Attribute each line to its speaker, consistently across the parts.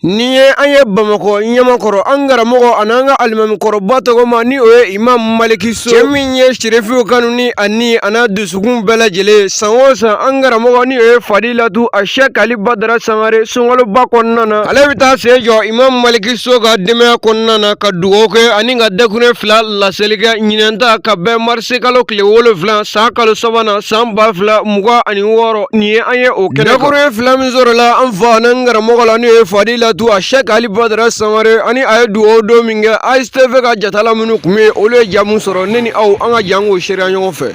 Speaker 1: Nin ye an ye bamakɔ ɲamakɔrɔ an karamɔgɔ ani an ka alimamikɔrɔba tɔgɔma ni o ye imam maliki so cɛ min ye sirifiw kanu ni a ni an'a dusukun bɛɛ lajɛlen san o san an karamɔgɔ ni o ye fadilatu asɛki ali badara sangare sunkaloba kɔnɔna na ale bɛ taa sen jɔ imam maliki so ka denbaya kɔnɔna na ka dugawu kɛ ani ka dakurun fila laseli kɛ ɲinan ta ka bɛn marisikalo tile wolofila san kalo sabanan san ba fila mugan ani wɔɔrɔ nin ye an ye o kɛnɛ dakuruɲɛ fila min sɔrɔla an fa n'an karamɔgɔ la n'o ye fadilatu asɛki ali badara sangare ani a ye dugawu don min kɛ ASTV ka jatala minnu tun bɛ yen olu ye ja min sɔrɔ ne ni aw an ka jɛn k'o seereya ɲɔgɔn fɛ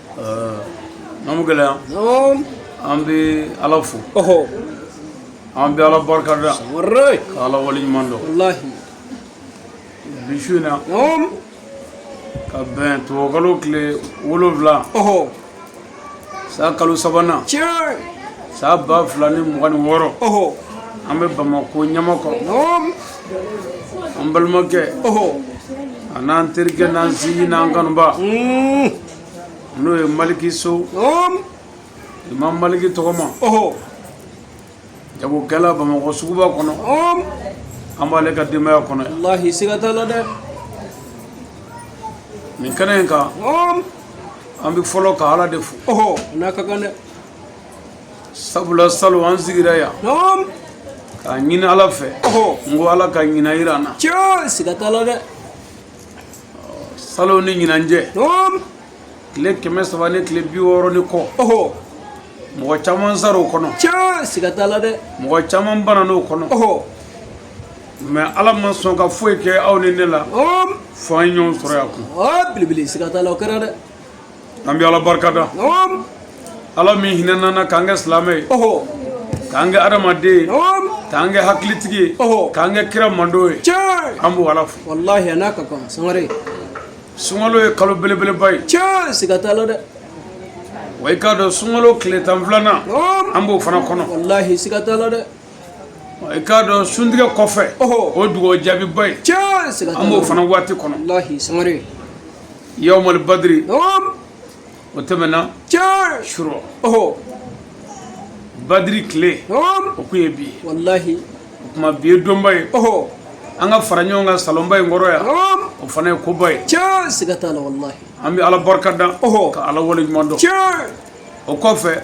Speaker 2: an bɛ
Speaker 3: gɛlɛya an
Speaker 2: bɛ ala
Speaker 3: fo
Speaker 2: an bɛ ala barika da ka ala waleɲumandɔn
Speaker 3: bi su
Speaker 2: in na
Speaker 3: ka
Speaker 2: bɛn tubabukalo tile wolonwula san kalo
Speaker 3: sabanan san
Speaker 2: ba fila ni mugan ni wɔɔrɔ
Speaker 3: an bɛ
Speaker 2: bamakɔ ɲamakɔrɔ an balimakɛ
Speaker 3: an'an
Speaker 2: terikɛ n'an sinji n'an kanuba n'o ye maliki
Speaker 3: so
Speaker 2: imam maliki tɔgɔma jagokɛla bamakɔ suguba kɔnɔ
Speaker 3: an b'ale
Speaker 2: ka denbaya kɔnɔ yan walahi siga t'a la dɛ nin kɛnɛ in
Speaker 3: kan an
Speaker 2: bɛ fɔlɔ ka ala de fo n'a ka
Speaker 3: kan
Speaker 2: dɛ sabula salon an sigira yan
Speaker 3: k'a
Speaker 2: ɲini ala fɛ n ko ala ka ɲinan jira an na siga t'a la dɛ salon ni ɲinan
Speaker 3: cɛ
Speaker 2: tile kɛmɛ saba ni tile bi wɔɔrɔ ni kɔ
Speaker 3: mɔgɔ
Speaker 2: caman sara o kɔnɔ tiɲɛ siga t'a la dɛ
Speaker 3: mɔgɔ caman
Speaker 2: banan'o kɔnɔ mɛ ala ma sɔn ka foyi kɛ aw ni ne la fo an ye
Speaker 3: ɲɔgɔn sɔrɔ
Speaker 2: yan kun belebele siga t'a
Speaker 3: la o kɛra dɛ
Speaker 2: an bɛ ala barika
Speaker 3: da ala
Speaker 2: min hinɛna an na k'an kɛ silamɛ ye k'an
Speaker 3: kɛ
Speaker 2: adamaden ye k'an kɛ
Speaker 3: hakilitigi
Speaker 2: ye k'an kɛ kira
Speaker 3: mantɔn ye
Speaker 2: an b'o ala fo walahi a n'a ka
Speaker 3: kan sangare
Speaker 2: sunkalo ye kalo belebeleba ye tiɲɛ siga t'a la dɛ wa i k'a dɔn sunkalo tile tan filanan an b'o
Speaker 3: fana kɔnɔ
Speaker 2: walahi siga t'a la
Speaker 3: dɛ
Speaker 2: i k'a dɔn suntigɛ kɔfɛ o
Speaker 3: dugawu jaabiba
Speaker 2: ye an b'o
Speaker 3: fana
Speaker 2: waati
Speaker 3: kɔnɔ yawmal
Speaker 2: badiri
Speaker 3: o
Speaker 2: tɛmɛna surɔ badiri tile o kun ye bi ye
Speaker 3: o tuma bi
Speaker 2: ye donba ye an
Speaker 3: ka fara
Speaker 2: ɲɔgɔn kan salonba in kɔrɔ yan o fana ye
Speaker 3: koba
Speaker 2: ye
Speaker 3: an bɛ ala barika
Speaker 2: da ka ala waleɲumandɔn o
Speaker 3: kɔfɛ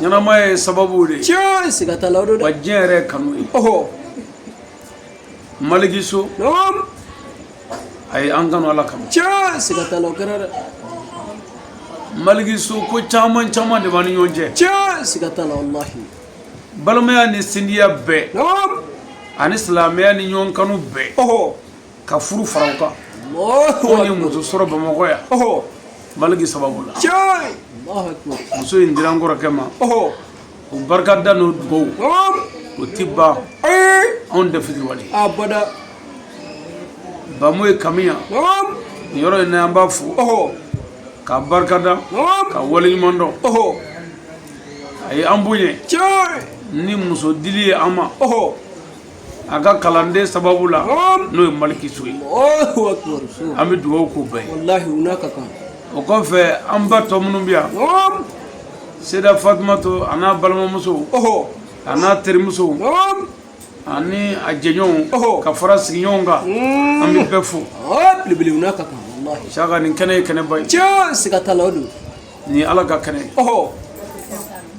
Speaker 2: ɲɛnamaya ye sababu de ye tiɲɛ siga t'a la o don
Speaker 3: dɛ wa diɲɛ yɛrɛ ye kanu
Speaker 2: ye ɔhɔ
Speaker 3: maliki
Speaker 2: so naam a ye an kanu ala kama tiɲɛ siga t'a la o kɛra
Speaker 3: dɛ maliki
Speaker 2: so ko caman caman de b'an ni ɲɔgɔn cɛ tiɲɛ siga t'a la
Speaker 3: walahi balimaya
Speaker 2: ni sindiya bɛɛ naam
Speaker 3: ani silamɛya
Speaker 2: ni ɲɔgɔn kanu bɛɛ ɔhɔ
Speaker 3: ka furu
Speaker 2: fara o kan ko
Speaker 3: ye muso
Speaker 2: sɔrɔ
Speaker 3: bamakɔ
Speaker 2: yan
Speaker 3: maliki
Speaker 2: sababu
Speaker 3: la muso in dira n kɔrɔkɛ
Speaker 2: ma
Speaker 3: o barika
Speaker 2: da n'o dugawu o
Speaker 3: ti ban
Speaker 2: anw
Speaker 3: tɛ fitiriwale
Speaker 2: bamu ye kami yan
Speaker 3: nin yɔrɔ in na
Speaker 2: an b'a
Speaker 3: fo ka
Speaker 2: barika da ka waleɲuman
Speaker 3: dɔn
Speaker 2: a ye an bonya
Speaker 3: ni muso
Speaker 2: dili ye an ma a ka kalanden sababu la n'o ye maliki so
Speaker 3: ye an bɛ dugawu
Speaker 2: k'u
Speaker 3: bɛɛ ye o kɔfɛ
Speaker 2: an ba tɔ minnu bɛ yan seda fatumato a n'a balimamuso a n'a terimuso ani a jɛɲɔgɔnw ka fara sigiɲɔgɔn kan an bɛ bɛɛ fo
Speaker 3: saka nin kɛnɛ ye kɛnɛba
Speaker 2: ye tiɲɛ siga t'a la o don
Speaker 3: nin ye ala ka
Speaker 2: kɛnɛ ye ɔhɔ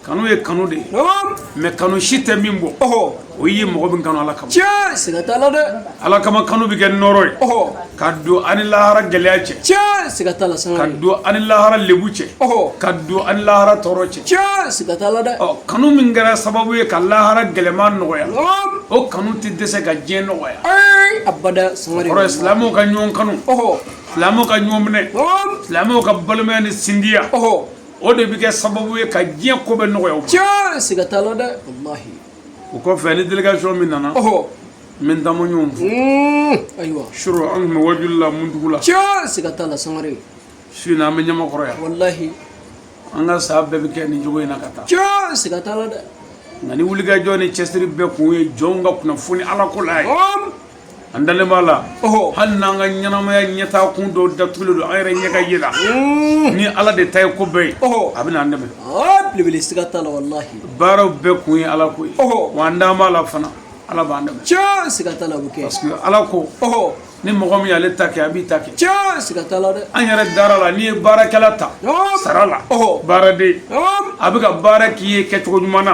Speaker 2: kanu ye kanu de ye naam mais kanu si tɛ min bɔ ɔhɔ o ye mɔgɔ min kanu ala kama tiɲɛ siga t'a la dɛ
Speaker 3: ala kama kanu bɛ
Speaker 2: kɛ nɔrɔ ye ɔhɔ ka don an ni lahara gɛlɛya cɛ tiɲɛ siga t'a la ka
Speaker 3: sangare don an
Speaker 2: ni
Speaker 3: lahara
Speaker 2: lebu cɛ ɔhɔ ka don an ni lahara tɔɔrɔ cɛ tiɲɛ siga t'a la
Speaker 3: dɛ ɔ kanu min
Speaker 2: kɛra sababu ye ka lahara gɛlɛman nɔgɔya naam o kanu tɛ dɛsɛ ka diɲɛ nɔgɔya ayi abada
Speaker 3: sangare kɔrɔ ye silamɛw ka ɲɔgɔn
Speaker 2: kanu ɔhɔ silamɛw ka ɲɔgɔn minɛ silamɛw ka balimaya ni sindiya o de bɛ kɛ sababu ye ka diɲɛ ko bɛɛ nɔgɔya o tiɲɛ siga t'a la dɛ
Speaker 3: walahi o kɔfɛ
Speaker 2: an ni délégation min nana n bɛ n taamaɲɔgɔn fo hmm, ayiwa
Speaker 3: surɔ an tun
Speaker 2: bɛ wajuli la muntugula tiɲɛ siga t'a
Speaker 3: la sangare su in na an
Speaker 2: bɛ ɲamakɔrɔ yan
Speaker 3: walahi an
Speaker 2: ka san bɛɛ bɛ kɛ nin cogo in na ka taa tiɲɛ siga t'a la dɛ
Speaker 3: nka ni wulikajɔ
Speaker 2: ni cɛsiri bɛɛ kun ye jɔnw ka kunnafoni ala ko la ye an dalen b'a la hali n'an ka ɲɛnamaya ɲɛtaa kun dɔw datugulen don an yɛrɛ ɲɛ ka ye la mm. ni ala de ta ye ko bɛɛ ye a bɛn'an dɛmɛ belebele siga t'a
Speaker 3: la walahi baaraw bɛɛ kun ye
Speaker 2: ala ko ye wa an dalen b'a la fana ala b'an dɛmɛ tiɲɛ siga t'a la o bɛ
Speaker 3: kɛ parce que ala
Speaker 2: ko ni mɔgɔ min y'ale ta kɛ a b'i ta kɛ tiɲɛ siga t'a la
Speaker 3: dɛ an yɛrɛ dara a la n'i ye
Speaker 2: baarakɛla ta sara la baaraden a bɛ ka baara k'i ye kɛcogo ɲuman na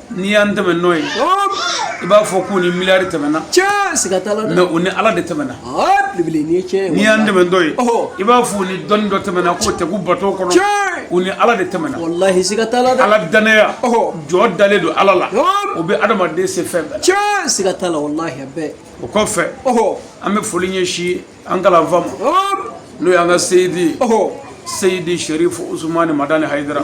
Speaker 2: n'i y'an tɛmɛtɔ ye i b'a fɔ k'u ni miliyari
Speaker 3: tɛmɛna mais u ni ala de tɛmɛna n'i y'an tɛmɛtɔ ye
Speaker 2: i b'a fɔ u ni dɔnni dɔ tɛmɛna k'o tɛ ko bato kɔnɔ u ni ala
Speaker 3: de
Speaker 2: tɛmɛna
Speaker 3: ala danaya
Speaker 2: jɔn dalen don ala la o bɛ adamaden se fɛn
Speaker 3: bɛɛ la o
Speaker 2: kɔfɛ an bɛ foli ɲɛsin an kalanfa ma n'o y'an ka seyidi seyidi sɛrifu usumani madani hayidara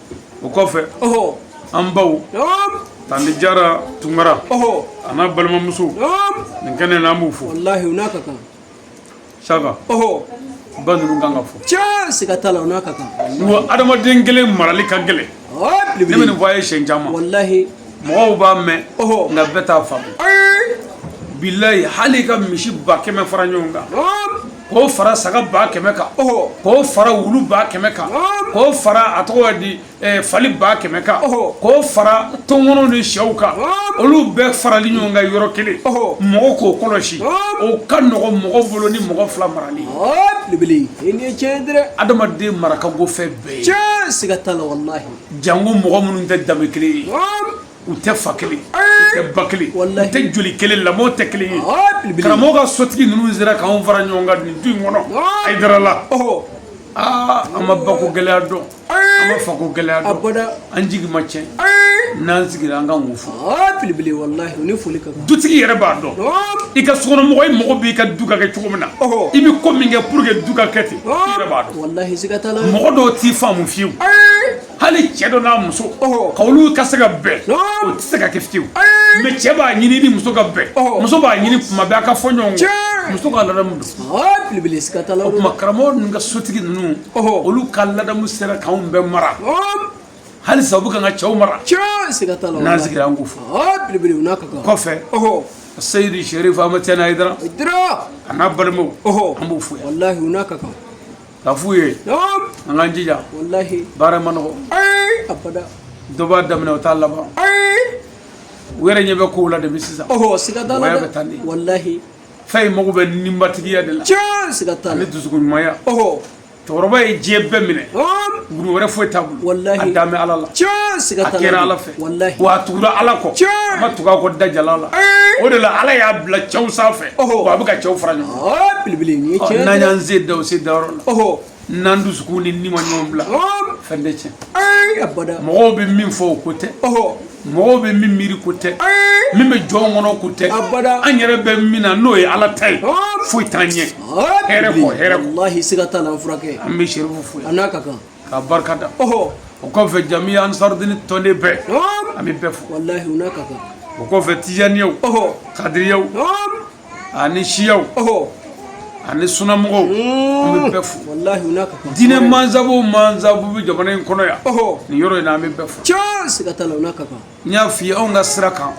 Speaker 3: o
Speaker 2: kɔfɛ an baw tanti jara tunkara a n'a balimamuso nin kɛnɛ na an b'u fo
Speaker 3: saka
Speaker 2: ba ninnu kan ka fo tiɲɛ siga t'a la
Speaker 3: u n'a ka kan wa
Speaker 2: adamaden kelen marali ka gɛlɛn ne bɛ nin fɔ a ye siɲɛ caman walahi
Speaker 3: mɔgɔw b'a mɛn
Speaker 2: nka bɛɛ t'a faamu bilayi hali i ka misi ba kɛmɛ fara ɲɔgɔn kan k'o fara saga ba kɛmɛ kan k'o fara wulu ba kɛmɛ kan k'o fara a tɔgɔ di fali ba kɛmɛ kan k'o fara tɔnkɔnɔw ni syɛw kan olu bɛɛ farali ɲɔgɔn kan yɔrɔ kelen mɔgɔ k'o kɔlɔsi o ka nɔgɔ mɔgɔ bolo ni mɔgɔ fila
Speaker 3: marali adamaden mara ka go
Speaker 2: fɛn bɛɛ ye
Speaker 3: jango mɔgɔ minnu
Speaker 2: tɛ danbe kelen ye u tɛ fa kelen tɛ ba kelen tɛ joli kelen lamɔ tɛ kelen ye karamɔgɔ ka sotigi ninnu sera k'an fara ɲɔgɔn kan nin du in kɔnɔ hayidara la aa an ma bako gɛlɛya dɔn an ma fako gɛlɛya dɔn an jigi ma tiɲɛ n'an sigira an k'u fo belebele
Speaker 3: walahi u ni foli ka kan dutigi yɛrɛ b'a
Speaker 2: dɔn i ka sokɔnɔmɔgɔ i mago b'i ka du ka kɛ cogo min na i bɛ ko min kɛ pour que du ka kɛ ten i yɛrɛ b'a dɔn walahi siga t'a la mɔgɔ
Speaker 3: dɔw t'i faamu
Speaker 2: fiyewu hali cɛ dɔ n'a muso k'olu ka se ka bɛn o tɛ se ka kɛ fiyewu mais cɛ b'a ɲini ni muso ka bɛn muso b'a ɲini tuma bɛɛ a ka fɔ ɲɔgɔn kɔ muso ka ladamu don
Speaker 3: o tuma karamɔgɔ ninnu ka
Speaker 2: sotigi ninnu olu ka ladamu sera k'anw bɛɛ mara halisa u bɛ k'an ka cɛw
Speaker 3: mara n'an sigira an k'u fo
Speaker 2: kɔfɛ seyidi sɛrifu amatijani hayidara a n'a balimaw an b'u fo yan
Speaker 3: ka f'u
Speaker 2: ye an k'an jija baara
Speaker 3: ma nɔgɔ dɔ
Speaker 2: b'a daminɛ o t'a laban u yɛrɛ ɲɛ bɛ kow la depuis sisan wa a bɛ tan
Speaker 3: de
Speaker 2: fɛn in
Speaker 3: mago
Speaker 2: bɛ ninbatigiya de
Speaker 3: la
Speaker 2: ani dusukunɲumanya cɛkɔrɔba ye diɲɛ bɛɛ minɛ wulu wɛrɛ foyi t'a bolo a dalen bɛ ala la a kɛra ala fɛ wallahi wa a tugura
Speaker 3: ala
Speaker 2: kɔ a ma tugu a kɔ da jalan la o de la ala y'a bila cɛw sanfɛ wa a bɛ ka cɛw fara ɲɔgɔn kan belebele ni ye tiɲɛ n'an
Speaker 3: y'an sen da o
Speaker 2: sen
Speaker 3: dayɔrɔ
Speaker 2: la n'an
Speaker 3: dusukun ni
Speaker 2: ni ma ɲɔgɔn bila fɛn tɛ tiɲɛ mɔgɔw
Speaker 3: bɛ min fɔ
Speaker 2: o ko tɛ
Speaker 3: mɔgɔw bɛ
Speaker 2: min miiri ko tɛ min bɛ jɔn kɔnɔ ko tɛ an yɛrɛ
Speaker 3: bɛ min na
Speaker 2: n'o ye ala ta ye foyi t'an ɲɛ hɛrɛ kɔ hɛrɛ kɔ
Speaker 3: an bɛ serifu fo a
Speaker 2: n'a ka kan k'a
Speaker 3: barika
Speaker 2: da o
Speaker 3: kɔfɛ
Speaker 2: jamiya ansarudini tɔnden bɛɛ an bɛ bɛɛ
Speaker 3: fo o kɔfɛ
Speaker 2: tijaniyaw kadiriyaw ani siyaw
Speaker 3: ani
Speaker 2: sunamɔgɔw an bɛ bɛɛ fo
Speaker 3: diinɛ
Speaker 2: mansabu mansabu bɛ jamana in kɔnɔ yan nin yɔrɔ in na an
Speaker 3: bɛ
Speaker 2: bɛɛ
Speaker 3: fo n y'a f'i ye anw ka
Speaker 2: sira kan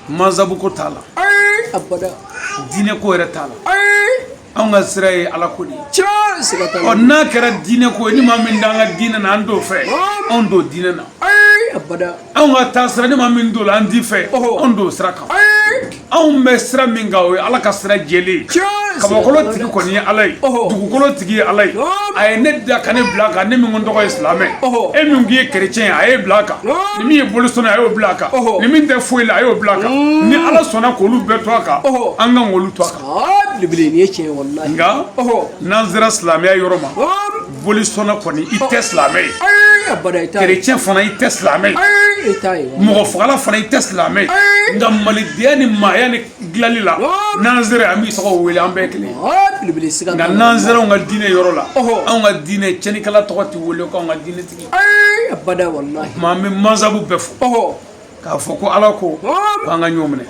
Speaker 2: mansabu ko t'a la
Speaker 3: diinɛ ko
Speaker 2: yɛrɛ t'a la anw ka sira ye ala ko de ye tiɲɛ siga t'a la
Speaker 3: ɔ n'a kɛra
Speaker 2: diinɛ ko ye ni maa min t'an ka diinɛ na an t'o fɛ anw t'o diinɛ na abada
Speaker 3: anw ka taa sira
Speaker 2: ni maa min t'o la an t'i fɛ anw t'o sira kan anw bɛ sira min kan o ye ala ka sira jɛlen ye kabakolo tigi kɔni ye ala ye dugukolo tigi ye ala ye a ye ne da ka ne bila a kan ne min ko n tɔgɔ ye silamɛ e min k'i ye kerecɛn ye a y'e bila a kan ni min ye bolisɔnna a y'o bila a kan ni min tɛ foyi la a y'o bila a kan ni ala sɔnna k'olu bɛɛ to a kan an kan k'olu to a kan
Speaker 3: nka
Speaker 2: n'an sera silamɛya yɔrɔ ma bolisɔnna kɔni i tɛ silamɛ ye
Speaker 3: kerecɛn fana i tɛ silamɛ
Speaker 2: ye mɔgɔ
Speaker 3: fagala fana i tɛ
Speaker 2: silamɛ ye nka malidenya ni maaya ni dilanli la n'an sera an b'i tɔgɔ wele an bɛɛ kelen nka n'an
Speaker 3: sera anw ka diinɛ yɔrɔ
Speaker 2: la anw ka diinɛ cɛnnikɛla tɔgɔ tɛ wele ko anw ka diinɛ tigi o
Speaker 3: tuma an bɛ mansabu
Speaker 2: bɛɛ fo k'a fɔ
Speaker 3: ko ala
Speaker 2: ko k'an ka ɲɔgɔn minɛ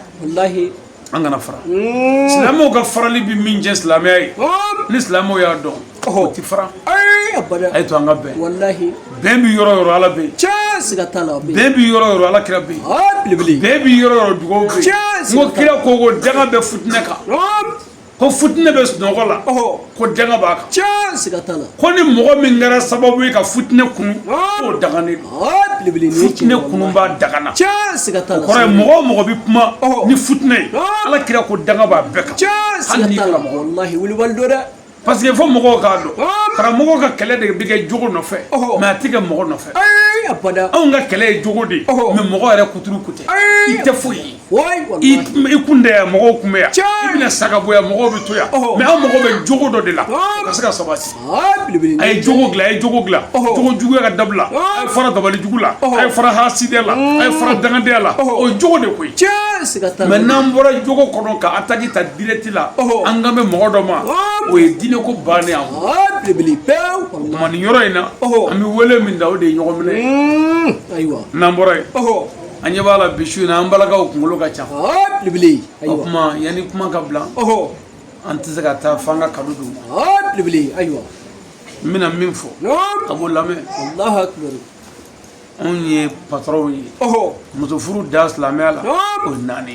Speaker 3: an kana
Speaker 2: fara silamɛw ka farali bɛ min jɛ silamɛya ye ni silamɛw y'a dɔn o ti fara a y'a to
Speaker 3: an ka
Speaker 2: bɛn bɛn bɛ
Speaker 3: yɔrɔ o
Speaker 2: yɔrɔ ala bɛ yen
Speaker 3: bɛn bɛ yɔrɔ o yɔrɔ
Speaker 2: ala kira bɛ yen bɛn bɛ yɔrɔ
Speaker 3: o yɔrɔ dugawu
Speaker 2: bɛ yen n ko kira ko ko danga bɛ futinɛ kan Ko futinɛ bɛ sunɔgɔ la ko danga b'a kan siga t'a la
Speaker 3: ko ni mɔgɔ min
Speaker 2: kɛra sababu ye ka futinɛ kunu k'o danganen
Speaker 3: don futinɛ kunubaa
Speaker 2: dangana siga
Speaker 3: mɔgɔ o mɔgɔ bɛ
Speaker 2: kuma ni futinɛ ye ala kira ko danga b'a
Speaker 3: bɛɛ kan dɛ parce que fo
Speaker 2: mɔgɔw k'a dɔn karamɔgɔ ka kɛlɛ de bɛ kɛ jogo nɔfɛ mɛ a tɛ kɛ mɔgɔ nɔfɛ anw
Speaker 3: ka kɛlɛ ye jogo
Speaker 2: de mɛ mɔgɔ yɛrɛ kuturu kutɛ i tɛ foyi ye
Speaker 3: i kun tɛ yan
Speaker 2: mɔgɔw tun bɛ yan i bɛna sa ka bɔ yan mɔgɔw bɛ to yan mɛ an mago bɛ jogo dɔ de la o ka se ka sabati a ye
Speaker 3: jogo dilan a ye
Speaker 2: jogo
Speaker 3: dilan
Speaker 2: jogo juguya ka dabila a ye fara dabali jugu la a ye fara hasidɛ la a ye fara dangadenya la o ye jogo de koyi
Speaker 3: mɛ n'an bɔra
Speaker 2: jogo kɔnɔ ka ataki ta direct la an kan bɛ mɔgɔ dɔ ma o ye diinɛ ko bannen an ma
Speaker 3: o tuma nin yɔrɔ in na
Speaker 2: an bɛ wele min da o de ye ɲɔgɔn minɛ ayiwa n'an bɔra
Speaker 3: yen
Speaker 2: an ɲɛ b'a la bi su in na an balakaw kunkolo ka ca
Speaker 3: belebele o
Speaker 2: tuma yanni
Speaker 3: kuma ka
Speaker 2: bila an tɛ se ka taa f'an ka kado d'u ma belebele ayiwa
Speaker 3: n
Speaker 2: bɛna min fɔ a b'o lamɛn
Speaker 3: alahu akibaru
Speaker 2: anw ye patɔrɔnw ye muso furu da silamɛya la o ye naani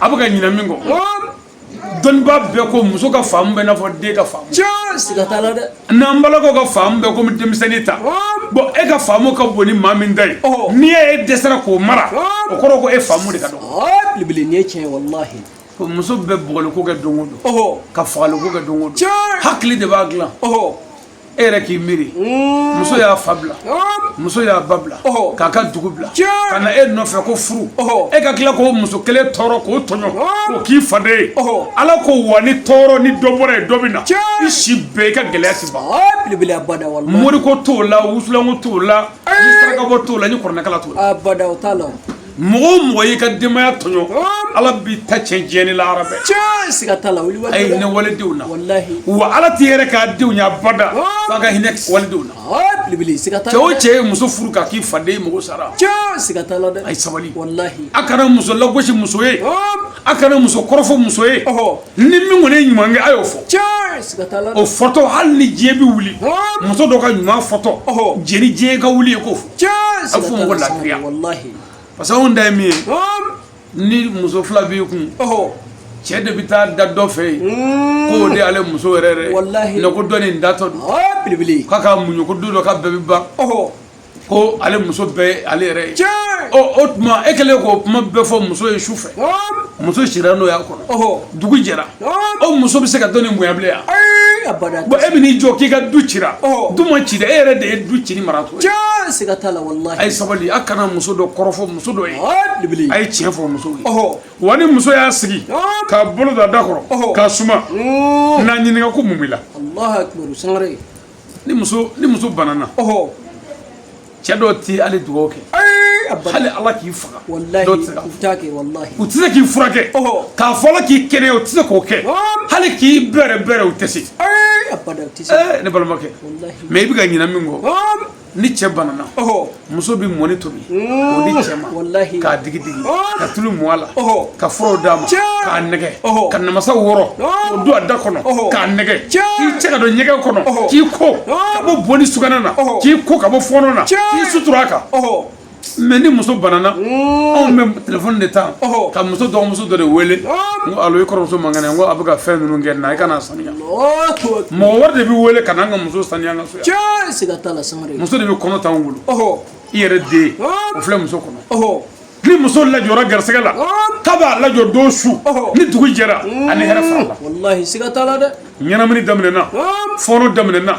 Speaker 3: a bɛ ka ɲinɛ
Speaker 2: min kɔ dɔnnibaa bɛɛ ko muso ka faamu bɛ i n'a fɔ den ka faamu tiɲɛ siga t'a la dɛ
Speaker 3: n'an b'a la k'u ka
Speaker 2: faamu bɛ komi denmisɛnnin ta bɔn e ka faamu ka bon ni maa min ta ye ni e dɛsɛra k'o mara o kɔrɔ ko e faamu de ka dɔgɔ belebele nin ye tiɲɛ
Speaker 3: ye walahi ko muso bɛ
Speaker 2: bugɔliko kɛ don o don ka fagaliko kɛ don o don hakili de b'a dilan e yɛrɛ k'i miiri mm. muso y'a fa bila muso y'a ba bila k'a ka dugu bila ka na e nɔfɛ ko furu e ka tila k'o muso kelen tɔɔrɔ k'o tɔɲɔ k'o k'i faden ye ala ko wa ni tɔɔrɔ ni dɔ bɔra yen dɔ bɛ na i si bɛɛ i ka gɛlɛya ti ban moriko t'o la wusulanko t'o la ni sarakabɔ t'o la ni kuranɛkalan t'o la mɔgɔ o mɔgɔ y'i ka denbaya tɔɲɔ ala b'i ta tiɲɛ diɲɛ ni lahara bɛɛ a ye hinɛ walidenw na wa ala t'i yɛrɛ ka denw ɲɛ abada f'a ka hinɛ walidenw na cɛ o cɛ ye muso furu k'a k'i faden ye mɔgɔ sara a ye sabali a kana muso lagosi muso ye a kana muso kɔrɔfɔ muso ye ni min kɔni ye ɲuman kɛ a y'o fɔ o fɔtɔ hali ni diɲɛ bɛ wuli muso dɔ ka ɲuman fɔtɔ yanni diɲɛ ka wuli e k'o fɔ a fɔ mɔgɔ lafiya parce que anw dan ye min ye ni muso fila b'i kun cɛ de bɛ taa da dɔ fɛ yen hmm. k'o de ale muso yɛrɛ yɛrɛ ye ko dɔ nin datɔ don belebele k'a ka muɲu ko don dɔ k'a bɛɛ bɛ ban ko ale muso bɛɛ ale yɛrɛ ye o tuma e kɛlen k'o kuma bɛɛ fɔ muso ye su fɛ muso sira n'o y'a kɔnɔ dugu jɛra o muso bɛ se ka dɔ nin bonya bilen yan bon e bɛn'i jɔ k'i ka du cira du ma ci dɛ e yɛrɛ de ye du ci ni maratɔ ye siga t'a la walahi a ye sabali a kana muso dɔ kɔrɔfɔ muso dɔ ye a ye tiɲɛ fɔ muso ye wa ni muso y'a sigi k'a bolo da da kɔrɔ k'a suma n'a ɲininka ko mun b'i la Alahu akibaru sangare ni muso ni muso banana ɔhɔ cɛ dɔw ti hali dugawu kɛ hali ala k'i faga dɔw tɛ se ka u tɛ se k'i furakɛ k'a fɔ ala k'i kɛnɛya u tɛ se k'o kɛ hali k'i bɛrɛ bɛrɛ u tɛ se ne balimakɛ mais i bɛ ka ɲinɛ min kɔ ni cɛ banana muso bɛ mɔni tobi k'o di cɛ ma k'a digi digi ka tulu mu a la ka furaw d'a ma k'a nɛgɛ ka namasa wɔrɔ k'o don a da kɔnɔ k'a nɛgɛ k'i cɛ ka don ɲɛgɛn kɔnɔ k'i ko ka bɔ bo ni sugunɛ na k'i ko ka bɔ fɔɔnɔ na k'i sutura a kan mais ni muso banana anw bɛ telefɔni de ta ka muso dɔgɔmuso dɔ de wele n ko alo i kɔrɔmuso man kɛnɛ n ko a bɛ ka fɛn ninnu kɛ na i ka n'a saniya mɔgɔ wɛrɛ de bɛ wele ka n'an ka muso saniya an ka so yan siga t'a la sangare muso de bɛ kɔnɔ t'anw bolo i yɛrɛ den o filɛ muso kɔnɔ ni muso lajɔra garisɛgɛ la kab'a lajɔ don su ni dugu jɛra a ni hɛrɛ farala walahi siga t'a la dɛ ɲɛnamini daminɛna fɔɔnɔ daminɛna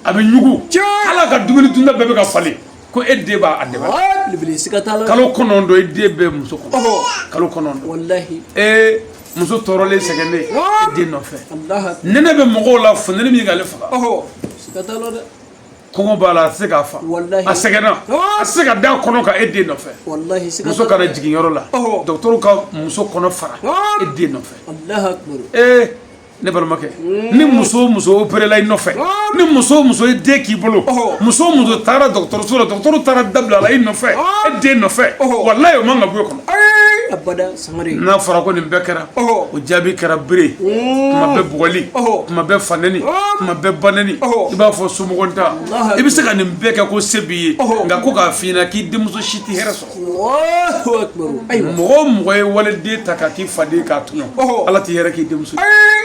Speaker 2: a bɛ ɲugu a la a ka dumuni dunta bɛɛ bɛ ka falen ko e den ba a dɛmɛ belebele siga t'a la kalo kɔnɔntɔn e den bɛ muso kɔnɔ Ɔhɔ. kalo kɔnɔntɔn walahi ee muso tɔɔrɔlen sɛgɛnnen e den nɔfɛ alahu nɛnɛ bɛ mɔgɔw la funteni bɛ k'ale faga ɔhɔ siga t'a la dɛ kɔngɔ b'a la a tɛ se ka fa Walahi. a sɛgɛnna a tɛ se ka da kɔnɔ kan e den nɔfɛ walahi siga muso t'a la ka na dɛ jigin yɔrɔ la Ɔhɔ. dɔgɔtɔrɔw ka muso kɔnɔ fara e den nɔfɛ alahu akbar ee ne balimakɛ ni muso o muso opérela i nɔfɛ ni muso o muso ye den k'i bolo muso o muso taara dɔgɔtɔrɔso la dɔgɔtɔrɔ taara da bila a la i nɔfɛ e den nɔfɛ walahi o man ka bɔ e kɔnɔ n'a fɔra ko nin bɛɛ kɛra o jaabi kɛra bere kuma bɛɛ bugɔli kuma bɛɛ fa nɛni kuma bɛɛ ba nɛni i b'a fɔ somɔgɔntan i bɛ se ka nin bɛɛ kɛ ko se b'i ye nka ko k'a f'i ɲɛna k'i denmuso si tɛ hɛrɛ sɔrɔ mɔgɔ o mɔgɔ ye waliden ta k'a k'i faden k'a tɔɲɔ ala tɛ hɛrɛ k'i denmuso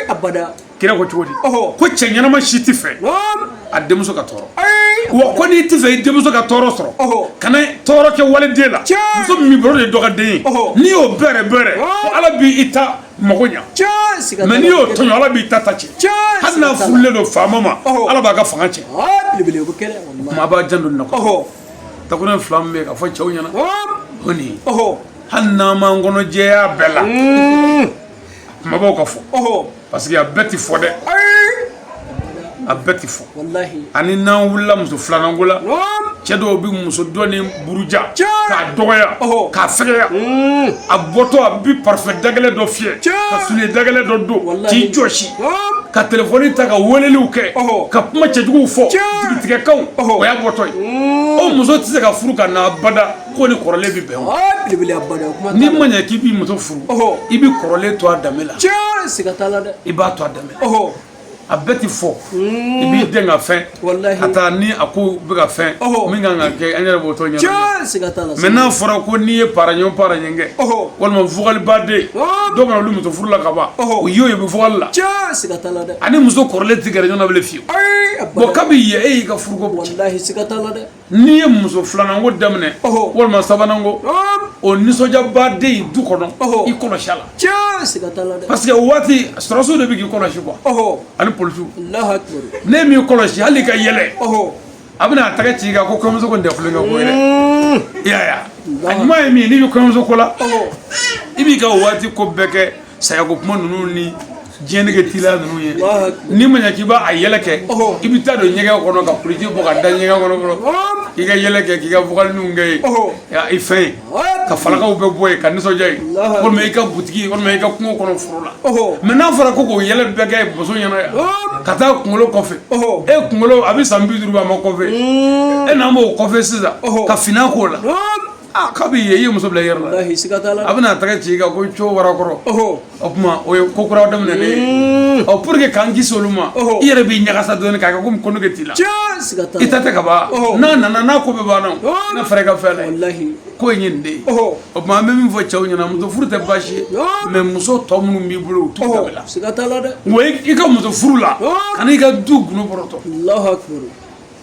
Speaker 2: abada kira ko cogo di ko cɛ ɲɛnama si tɛ fɛ a denmuso ka tɔɔrɔ wa ko n'i tɛ fɛ i denmuso ka tɔɔrɔ sɔrɔ kana tɔɔrɔ kɛ waliden la muso min b'i bolo de ye dɔ ka den ye n'i y'o bɛrɛbɛrɛ ko ala b'i ta mago ɲa mais n'i y'o tɔɲɔ ala b'i ta tiɲɛ hali n'a furulen don faama ma ala b'a ka fanga tiɲɛ ko maa b'a janto nin na ko dakunnin fila min bɛ ka fɔ cɛw ɲɛna ko nin hali n'an m'an kɔnɔ jɛya bɛɛ la kumabaw ka fɔ parce que a bɛɛ tɛ fɔ dɛ a bɛɛ tɛ fɔ ani n'an wulila muso filanan ko la cɛ dɔw bɛ muso dɔ ni buruja k'a dɔgɔya k'a fɛgɛya a bɔtɔ a bɛ parfum dagɛlɛn dɔ fiyɛ ka soulier dagɛlɛn dɔ don k'i jɔsi ka telefɔni ta ka weleliw kɛ ka kuma cɛjuguw fɔ jigitigɛkanw o y'a bɔtɔ ye mm. o muso tɛ se ka furu ka na abada k'o ni kɔrɔlen bɛ bɛn o n'i ma ɲɛ k'i bɛ muso furu i bɛ kɔrɔlen to a danbe la i b'a to a danbe la a bɛɛ tɛ fɔ mm. i b'i den ka fɛn walahi ka taa ni a ko bɛ ka fɛn Ɔhɔ. min kan ka kɛ an yɛrɛ b'o tɔ ɲɛnabɔ tiɲɛ siga t'a la mais n'a fɔra ko n'i ye paraɲɔn paraɲɔn kɛ Ɔhɔ. walima vugalibaden Ɔhɔ. dɔw bɛ na olu muso furu la ka ban Ɔhɔ. o y'o ye u bɛ vugali la tiɲɛ siga t'a la dɛ ani muso kɔrɔlen tɛ gɛrɛ ɲɔgɔn na bilen fiyewu ayi bon abada kabi yen e y'i ka furuko bɔ walahi siga t'a la dɛ n'i ye muso filananko daminɛ walima sabananko o nisɔndiyaba de ye du kɔnɔ i kɔlɔsi la
Speaker 3: parce que o waati
Speaker 2: sɔrɔdasiw de bɛ k'i kɔlɔsi quoi ani polisiw
Speaker 3: de b'i
Speaker 2: kɔlɔsi hali i ka yɛlɛ a bɛna a tɛgɛ ci i kan ko kɔɲɔmuso ko tɛ tulonkɛ ko ye dɛ a ɲuman ye min ye n'i bɛ kɔɲɔmuso ko la i b'i ka waati ko bɛɛ kɛ sayako kuma ninnu ni diɲɛnege tila ninnu ye n'i ma ɲɛ k'i b'a a yɛlɛ kɛ i bɛ taa don ɲɛgɛn kɔnɔ ka koliji bɔ ka da ɲɛgɛn kɔnɔ fɔlɔ k'i ka yɛlɛ kɛ k'i ka vocalininw kɛ yen i fɛn ye ka falakaw bɛ bɔ yen ka nisɔndiya yen walima i ka butigi walima i ka kungo kɔnɔ foro la mɛ n'a fɔra ko k'o yɛlɛ bɛɛ kɛ muso ɲɛna yan ka taa kunkolo kɔfɛ e kunkolo a bɛ san bi duuru a ma kɔfɛ e n'an b'o kɔfɛ sisan ka finan k'o la aa k'a bɛ yen i ye muso bila i yɛrɛ la walahi siga t'a la a bɛna a tɛgɛ ci i kan ko co wara kɔrɔ ɔhɔ o tuma o ye ko kura daminɛlen ye ɔ pour que k'an kisi olu ma Ɔhɔ. i yɛrɛ b'i ɲagasa dɔɔni k'a kɛ komi ko nege t'i la tiɲɛ siga t'a la i ta tɛ ka ban Ɔhɔ. n'a nana n'a ko bɛɛ banna o Ɔhɔ. na fɛɛrɛ ka fɛn la ye walahi ko in ye nin de ye ɔhɔ o tuma an bɛ min fɔ cɛw ɲɛna muso furu tɛ baasi ye Ɔhɔ. mɛ muso tɔ minnu b'i bolo u t'u ɔhɔ dabila siga t'a la dɛ wa i i ka muso furu la Ɔhɔ. ani i ka du gundo bɔrɔtɔ alahu akibaru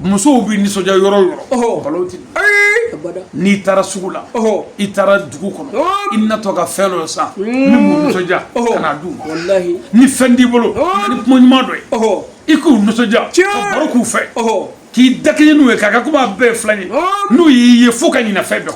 Speaker 2: musow bɛ nisɔndiya yɔrɔ o yɔrɔ balawu tɛ n'i taara sugu la i taara dugu kɔnɔ i natɔ ka fɛn dɔ san min b'u nisɔndiya ka n'a d'u ma ni fɛn t'i bolo ni kuma ɲuman dɔ ye i k'u nisɔndiya ka baro k'u fɛ k'i dakɛɲɛ n'u ye k'a kɛ komi a bɛɛ ye filan ye n'u y'i ye fo ka ɲinɛ fɛn dɔ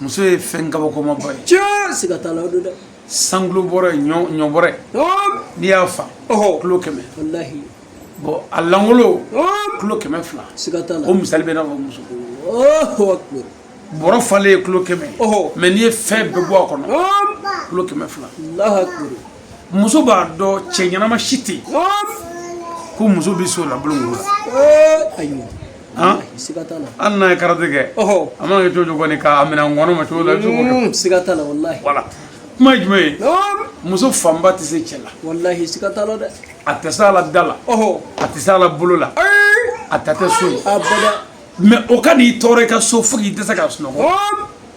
Speaker 2: muso ye fɛn kabakomaba ye tiɲɛ siga t'a la o don dɛ cent kilos bɔrɛ ye ɲɔ ɲɔ bɔrɛ ye Hɔn, n'i y'a fa ɔhɔ kilo kɛmɛ walahi bɔn a lankolon Hɔn, kilo kɛmɛ fila siga t'a la o misali bɛ n'a fɔ muso Allahu akbar bɔrɔ falen ye kilo kɛmɛ Ɔhɔ. mɛ n'i ye fɛn bɛɛ bɔ a kɔnɔ Hɔn, kilo kɛmɛ fila Allahu akbar muso b'a dɔn cɛ ɲɛnama si tɛ yen ko muso bɛ s'o la bolo la hali n'a ye karate kɛ a mana kɛ cogo kɔni k'a minɛ ŋɔnɔ ma cogo la mm, siga t'a la walahi voilà kuma ye jumɛn ye muso fanba tɛ se cɛ la walahi siga t'a la dɛ a tɛ s'a la da la a tɛ s'a la bolo la a ta tɛ so ye abada mɛ o ka n'i tɔɔrɔ i ka so fo k'i dɛsɛ ka sunɔgɔ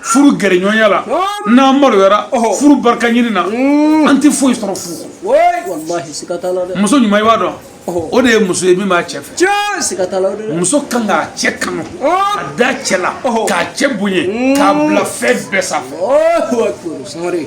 Speaker 2: furu gɛrɛɲɔgɔnya la n'an maloyara furu barika ɲini na mm. an tɛ foyi sɔrɔ furu kɔnɔ muso ɲuman i b'a dɔn o de ye muso ye min b'a cɛ fɛ muso kan k'a cɛ kanu ka da cɛ la k'a cɛ bonya k'a bila fɛn bɛɛ sanfɛ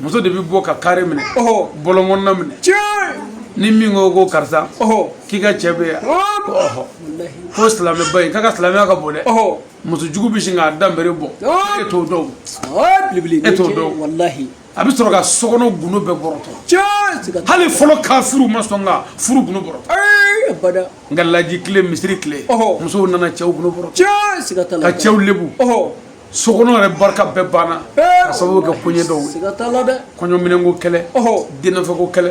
Speaker 2: muso de bɛ bɔ ka kare minɛ bɔlɔnkɔnɔna minɛ ni min ko ko karisa k'i ka cɛ bɛ yan ko silamɛba in k'a ka silamɛya ka bon dɛ muso jugu bɛ sin k'a da nbere bɔ e t'o dɔn e t'o dɔn a bɛ sɔrɔ ka sokɔnɔ gundo bɛɛ bɔrɔtɔ hali fɔlɔ kafiri ma sɔn ka furu gundo bɔrɔtɔ nka laji tile misiri tile musow nana cɛw gundo bɔrɔtɔ ka cɛw lebu so kɔnɔ yɛrɛ barika bɛɛ banna ka sababu kɛ koɲɛ dɔw
Speaker 3: ye kɔɲɔminɛnko
Speaker 2: kɛlɛ denfɛko kɛlɛ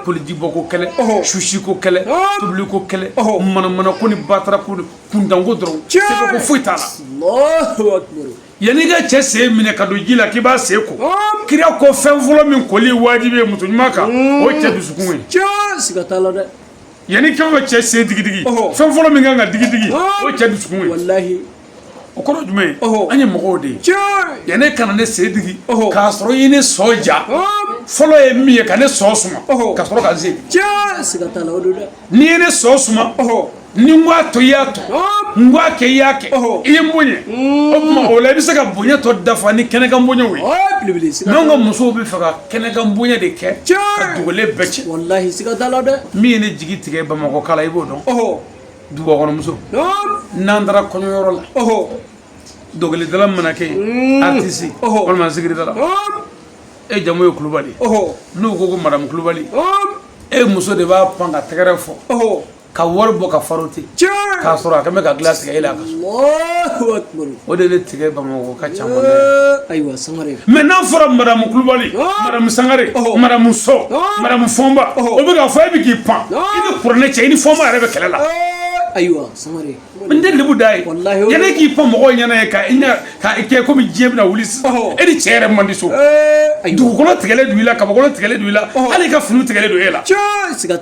Speaker 2: kolijibɔko kɛlɛ susiko kɛlɛ tobiliko kɛlɛ manamana ko ni batara ko kuntanko dɔrɔn sɛbɛko foyi t'a la
Speaker 3: yanni ka
Speaker 2: cɛ sen minɛ ka don ji la k'i b'a sen ko kira ko fɛn fɔlɔ min koli wajibi ye muso ɲuman kan o ye cɛ dusukun ye
Speaker 3: yanni ka
Speaker 2: cɛ sen digidigi fɛn fɔlɔ min kan ka digidigi o ye cɛ dusukun ye
Speaker 3: o
Speaker 2: kɔrɔ jumɛn ye an ye mɔgɔw de ye yanni ka na ne sen digi k'a sɔrɔ i ye ne sɔn ja fɔlɔ ye min ye ka ne sɔn suma ka sɔrɔ ka se
Speaker 3: n'i ye ne sɔn suma
Speaker 2: ni n k'a to i y'a to n k'a kɛ i y'a kɛ i ye n bonya mm. o tuma o la i bɛ se ka bonya tɔ dafa ni kɛnɛkan bonyaw ye n'anw
Speaker 3: ka musow bɛ fɛ ka
Speaker 2: kɛnɛkan bonya de kɛ ka dogolen bɛɛ
Speaker 3: cɛn min ye ne jigi tigɛ
Speaker 2: bamakɔkaw la i b'o dɔn dugubakɔnɔmuso n'an taara kɔɲɔyɔrɔ la dɔnkilidala mana kɛ yen artiste walima zikiridala e jamu ye kulubali n'u ko ko madamu kulubali e muso de b'a pan ka tɛgɛrɛ fɔ ka wari bɔ ka faro ten k'a sɔrɔ a kɛ bɛ ka dilan tigɛ e la a ka so
Speaker 3: o de bɛ tigɛ
Speaker 2: bamakɔ ka ca ayiwa sangare
Speaker 3: mais n'a fɔra
Speaker 2: madamu kulubali madamu sangare madamu sɔ madamu fɔnba o bɛ ka fɔ e bɛ k'i pan i bɛ kuranɛ cɛ i ni fɔnba yɛrɛ bɛ kɛlɛ la ayiwa
Speaker 3: sangare n tɛ lebu da
Speaker 2: ye yanni e k'i pan mɔgɔw ɲɛna yen k'a kɛ komi diɲɛ bɛna wuli sisan e ni cɛ yɛrɛ man di so dugukolo tigɛlen don i la kabakolo tigɛlen don i la hali i ka fini tigɛlen don e la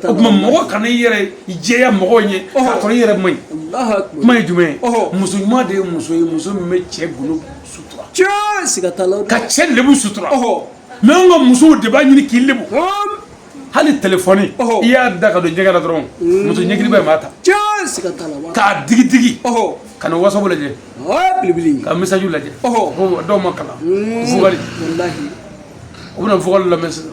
Speaker 2: o tuma mɔgɔ kana i yɛrɛ i jɛya mɔgɔw ɲɛ k'a sɔrɔ i yɛrɛ man ɲi kuma ye jumɛn ye muso ɲuman de ye muso ye muso min bɛ cɛ golo sutura ka cɛ lebu sutura mais an ka musow de b'a ɲini k'i lebu hali telefɔni i y'a da ka don ɲɛgɛn na dɔrɔn muso ɲɛkili bɛ maa ta k'a digi digi ka na WhatsApp lajɛ ka message lajɛ dɔw ma kalan vocal u bɛna vocal lamɛn sisan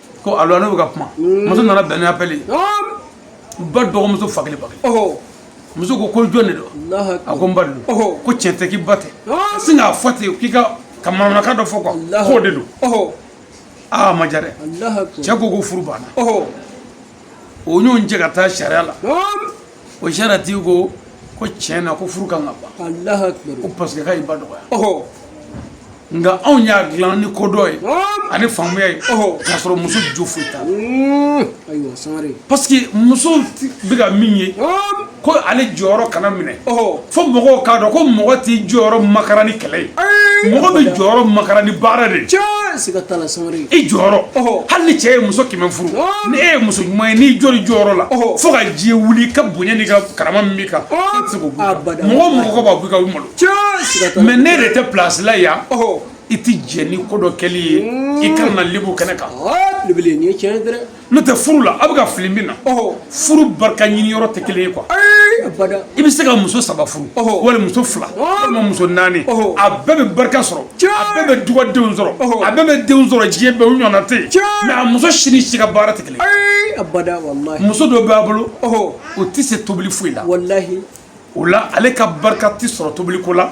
Speaker 2: ko alo ne bɛ ka kuma mm. muso nana bɛn ni appel ye ba dɔgɔmuso fa kelen ba kelen muso ko ko jɔn de don a ko n ba de don ko tiɲɛ tɛ k'i ba tɛ sin k'a fɔ ten k'i ka ka manamanakan dɔ fɔ quoi k'o de don aa a ma diya dɛ cɛ ko ko furu banna u ɲɔgɔn cɛ ka taa sariya la o sariyatigi ko ko tiɲɛ na ko furu kan ka ban ko parce que k'a y'i ba dɔgɔya nka anw y'a dilan ni kodɔn ye ani faamuya ye k'a sɔrɔ muso jo foyi t'a la parce que muso bɛ ka min ye ko ale jɔyɔrɔ kana minɛ fo mɔgɔw k'a dɔn ko mɔgɔ t'i jɔyɔrɔ makara ni kɛlɛ ye mɔgɔ bɛ jɔyɔrɔ makara ni baara de i jɔyɔrɔ hali ni cɛ ye muso kɛmɛ furu ni e ye muso ɲuman ye n'i jɔr'i jɔyɔrɔ la fo ka diɲɛ wuli i ka bonya n'i ka karama min b'i kan mɔgɔ mɔgɔ b'a bɔ i ka malo mais ne de tɛ place la yan i tɛ jɛ ni ko dɔ kɛli ye i kana lebu kɛnɛ kan n'o tɛ furu la a bɛ ka fili min na furu barika ɲini yɔrɔ tɛ kelen ye quoi i bɛ se ka muso saba furu wali muso fila walima muso naani a bɛɛ bɛ barika sɔrɔ a bɛɛ bɛ dugadenw sɔrɔ a bɛɛ bɛ denw sɔrɔ diɲɛ bɛɛ u ɲɔgɔnna tɛ yen mais a muso si ni si ka baara tɛ kelen muso dɔ b'a bolo o tɛ se tobili foyi la o la ale ka barika tɛ sɔrɔ tobiliko la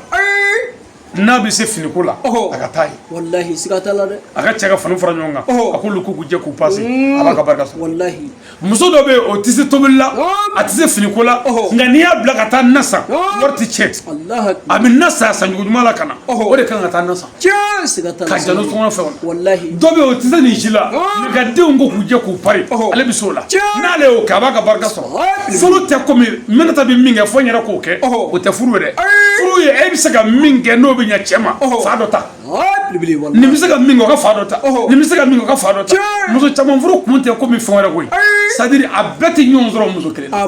Speaker 2: n'a bɛ se finiko la a ka taa ye walahi siga t'a la dɛ a ka cɛ ka fani fara ɲɔgɔn kan a k'olu k'u jɛ k'u pase a b'a ka barika sɔrɔ walahi muso dɔ bɛ yen o tɛ se tobili la a tɛ se finiko la nka n'i y'a bila ka taa na san wari tɛ tiɲɛ a bɛ na san cogo ɲuman la ka na o de kan ka taa na san ka jalo tɔŋɔn fɛ walahi dɔ bɛ yen o tɛ se nin si la nka ka denw ko k'u jɛ k'u pari ale bɛ se o la n'ale y'o kɛ a b'a ka barika sɔrɔ furu tɛ komi Minata bɛ min kɛ fo n yɛrɛ k'o kɛ o tɛ furu ye dɛ furu ye e bɛ se ka min kɛ n'o bɛ ɲɛ cɛ ma fan dɔ ta nin bɛ se ka min kɛ o ka fan dɔ ta nin bɛ se ka min kɛ o ka fan dɔ ta muso caman furu kun tɛ komi fɛn wɛrɛ koyi c'est-à-dire a bɛɛ tɛ ɲɔgɔn sɔrɔ muso kelen na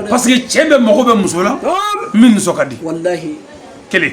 Speaker 2: parce que cɛ bɛɛ mago bɛ muso la min nisɔn ka di kelen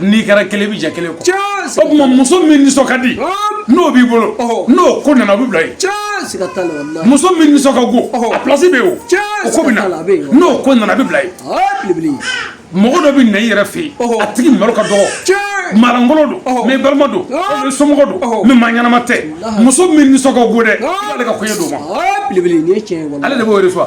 Speaker 2: n'i
Speaker 3: kɛra kelen i bɛ
Speaker 2: jɛ kelen kɔ o tuma
Speaker 3: muso
Speaker 2: min
Speaker 3: nisɔn
Speaker 2: ka di n'o b'i bolo n'o ko nana o bɛ bila
Speaker 3: yen muso min nisɔn ka go
Speaker 2: a place bɛ yen o o ko bɛ na n'o ko
Speaker 3: nana a bɛ bila
Speaker 2: yen
Speaker 3: mɔgɔ dɔ bɛ
Speaker 2: na i yɛrɛ fɛ yen a tigi malo ka dɔgɔ
Speaker 3: maalankolon don
Speaker 2: mais balima don mais somɔgɔ don mais maa ɲɛnama tɛ muso min nisɔn ka go dɛ i b'ale ka koɲɛ d'o ma
Speaker 3: ale de b'o de fɔ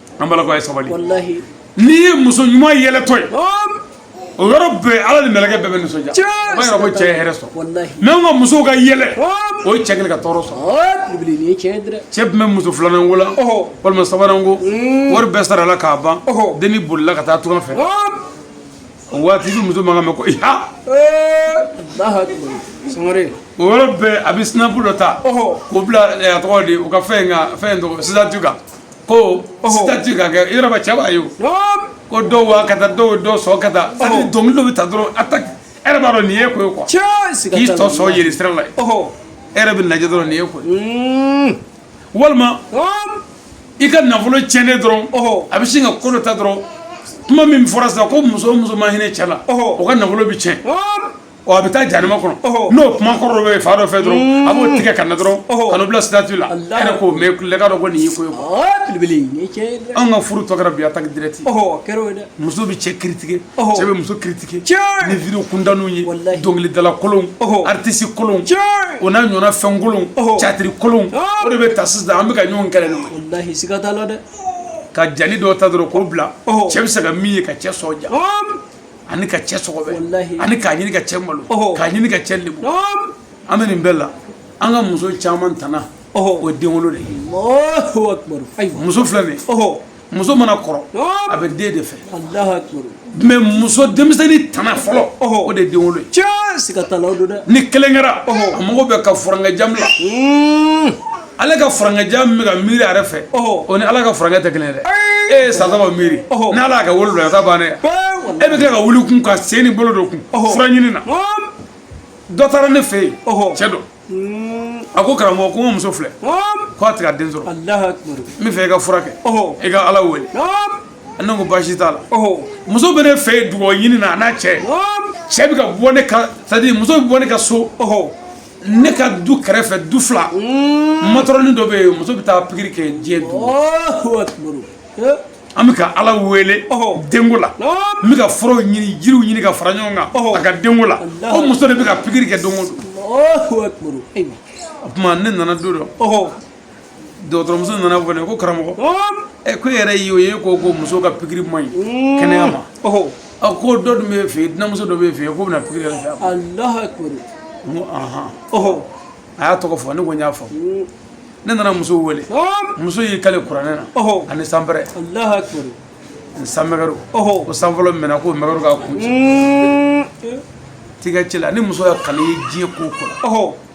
Speaker 2: an balakaw ye sabali
Speaker 3: n'i ye
Speaker 2: muso ɲuman yɛlɛtɔ ye o yɔrɔ bɛɛ ala ni mɛlɛkɛ bɛɛ bɛ nisɔndiya o b'a yira ko cɛ ye hɛrɛ sɔrɔ mais an ka musow
Speaker 3: ka
Speaker 2: yɛlɛ o ye cɛ kelen ka tɔɔrɔ sɔrɔ
Speaker 3: cɛ tun bɛ muso filanan
Speaker 2: ko la walima sabanan ko hmm. wari bɛɛ sarala k'a ban denni bolila ka taa tunga fɛ o waati i bɛ muso mankan mɛn ko
Speaker 3: iha o yɔrɔ bɛɛ
Speaker 2: a bɛ sinapu dɔ ta k'o bila a tɔgɔ di u ka fɛn in ka fɛn in tɔgɔ statut kan ko statut ka kɛ yɔrɔba cɛ b'a ye ko dɔw wa ka taa dɔw dɔ sɔn ka taa dɔnkili dɔ bɛ ta dɔrɔn e yɛrɛ b'a dɔn nin ye ko ye quoi k'i tɔ sɔn
Speaker 3: jiri sira la
Speaker 2: e bɛ lajɛ dɔrɔn nin ye ko walima i ka nafolo cɛnnen dɔrɔn a bɛ sin ka ko dɔ ta dɔrɔn kuma min fɔra sisan ko muso o muso ma hinɛ cɛ la o ka nafolo bɛ cɛn ɔ a bɛ taa janma kɔnɔ n'o kuma kɔrɔ dɔ bɛ fan dɔ fɛ dɔrɔn a b'o tigɛ ka na dɔrɔn ka bila sitati la yɛrɛ k'o mɛn k'a dɔn ko nin y'i ko
Speaker 3: ye an ka furu tɔ kɛra bi
Speaker 2: attaque direct muso
Speaker 3: bɛ cɛ
Speaker 2: critiquer cɛ bɛ muso critiquer ni vidéo
Speaker 3: kuntanw
Speaker 2: ye dɔnkilidala kolon artiste kolon o n'a
Speaker 3: ɲɔgɔnna
Speaker 2: fɛn kolon catiri kolon o de bɛ ta sisan an bɛ ka ɲɔgɔn kɛlɛ dɛ
Speaker 3: ka jeli
Speaker 2: dɔ ta dɔrɔn k'o bila cɛ bɛ se ka min ye ka cɛ sɔn ja ani ka cɛ sɔgɔbɛ ani k'a ɲini
Speaker 3: ka cɛ
Speaker 2: malo k'a ɲini ka cɛ lebu an bɛ nin bɛɛ la an ka muso caman tana o ye denwolo de ye
Speaker 3: muso filɛ nin
Speaker 2: muso mana kɔrɔ a bɛ den de
Speaker 3: fɛ mɛ
Speaker 2: muso denmisɛnnin tana fɔlɔ o de ye denwolo ye
Speaker 3: ni kelen kɛra
Speaker 2: a mago bɛ ka furankɛ jan bila ale ka furankɛ jan min bɛ ka miiri a yɛrɛ fɛ o ni ala ka furankɛ tɛ kelen ye dɛ e ye san saba miiri n'ala y'a ka wolo don a ta bannen e bɛ tila ka wuli kun ka sen ni bolo don kun fura ɲini na dɔ taara ne fɛ yen cɛ dɔ hmm. a ko karamɔgɔ ko n muso filɛ ko a tɛ ka den sɔrɔ n
Speaker 3: bɛ fɛ i ka fura
Speaker 2: kɛ i ka ala wele ne ko baasi t'a la muso bɛ ne fɛ yen dugawu ɲini na a n'a cɛ cɛ bɛ ka bɔ ne ka c'est à dire muso bɛ bɔ ne ka so ne ka du kɛrɛfɛ du fila matɔrɔni dɔ bɛ yen muso bɛ taa pikiri kɛ diɲɛ du
Speaker 3: an bɛ ka ala
Speaker 2: wele denko la n bɛ ka furaw ɲini jiriw ɲini ka fara ɲɔgɔn kan a ka denko la o muso de bɛ ka pikiri kɛ don o don o
Speaker 3: tuma ne
Speaker 2: nana don dɔ dɔgɔtɔrɔmuso nana fɔ ne ko karamɔgɔ ɛ ko e yɛrɛ y'o ye ko ko muso ka pikiri man ɲi mm. kɛnɛya ma a ko dɔ dun bɛ fɛ yen dunanmuso dɔ bɛ fɛ yen k'o bɛna pikiri yɛrɛ kɛ
Speaker 3: n ko
Speaker 2: ahan a y'a tɔgɔ fɔ ne ko n y'a faamu ne nana muso wele muso y'i kale kuranɛ na ani sanpɛrɛ
Speaker 3: ani
Speaker 2: sanmɛgɛru ko san fɔlɔ minɛ k'o mɛgɛru k'a kun ci mm. tigɛ ci la ni muso y'a kale diɲɛ ko kɔnɔ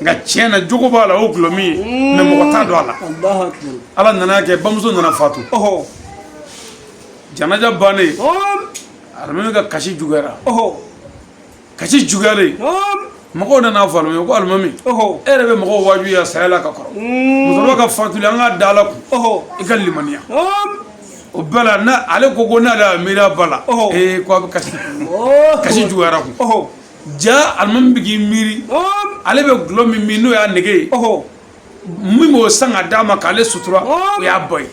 Speaker 2: nka tiɲɛ na jogo b'a la o gulɔ min ye mm. mɛ mɔgɔ t'a dɔn a la Alahu akibaru. ala nana kɛ bamuso nana fatu Ɔhɔ. janaja bannen Hɔn. alimami ka kasi juguyara Ɔhɔ. kasi juguyalen Hɔn. mɔgɔw nana fɔ alimami ko alimami e Ɔhɔ. yɛrɛ bɛ mɔgɔw wajuya saya la ka kɔrɔ Mm. musokɔrɔba ka fatuli an k'a da ala kun Ɔhɔ. i ka limaniya Hɔn. o bɛɛ la na ale ko ko n'ale y'a miiri a ba la Ɔhɔ. ee ko a bɛ kasi Ɔhɔ. kasi juguyara kun Ɔhɔ. jaa alimami bɛ k'i miiri ale bɛ gulɔ min min n'o y'a nege ye min b'o san ka d'a ma k'ale sutura o y'a ba ye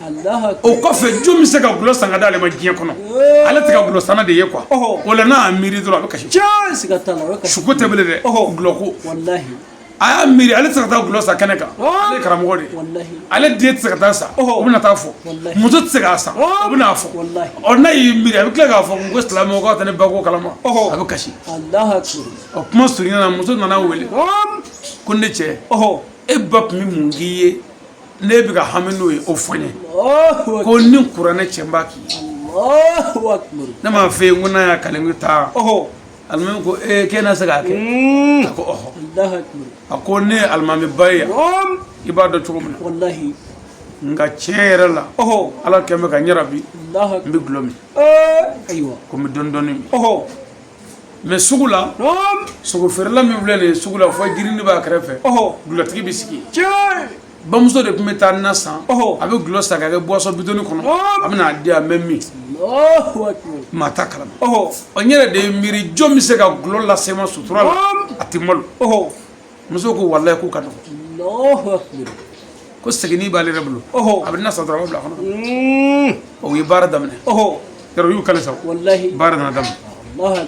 Speaker 2: o kɔfɛ jɔn bɛ se ka gulɔ san ka d'ale ma diɲɛ kɔnɔ ale tɛ ka gulɔ sanna de ye quoi o la n'a y'a miiri dɔrɔn a bɛ kasi, cɛɛ, siga t'a la, suko tɛ bilen dɛ, gulɔ ko, walahi a y'a miiri ale tɛ se ka taa gulɔ san kɛnɛ kan ale ye karamɔgɔ de ye ale den tɛ se ka taa san o bɛna taa fɔ muso tɛ se k'a san o bɛna fɔ ɔ n'a y'i miiri a bɛ tila k'a fɔ ko silamɛw k'aw tɛ ne ba ko kalama a bɛ kasi ɔ kuma surunya na muso nana wele ko ne cɛ e ba tun bɛ mun k'i ye ne bɛ ka hami n'o ye o fɔ n ye ko ni kuranɛ cɛ n b'a k'i ye ne m'a fɛ yen ko n'a y'a kale n bɛ taa alimami ko ee k'e na se k'a kɛ a ko ɔhɔ Allahu akbar. a ko ne ye alimamiba ye yan Ɔm. i b'a dɔn cogo min na Wallahi. nka tiɲɛ yɛrɛ la Ɔhɔ. ala kɛlen bɛ ka n jarabi Allahu akbar. n bɛ gulɔ min Ee. Ayiwa. ko n bɛ dɔɔni dɔɔni min Ɔhɔ. mɛ sugu la Ɔm. sogo feerela min filɛ nin ye sugu la fɔ jirini b'a kɛrɛfɛ Ɔhɔ. gulɔtigi bɛ sigi yen Cɛ. bamuso de tun bɛ taa na san a bɛ gulɔ san ka kɛ buwasɔn bidɔni kɔnɔ a bɛ n'a di yan n bɛ min maa t'a kalama ɔ n yɛrɛ de ye miiri jɔn bɛ se ka gulɔ lase n ma sutura la a tɛ malo muso ko walayi k'o ka dɔgɔ ko segini b'ale yɛrɛ bolo a bɛ n'a san dɔrɔn a bɛ bila a kɔnɔ o ye baara daminɛ yɔrɔ y'u kali sa baara nana daminɛ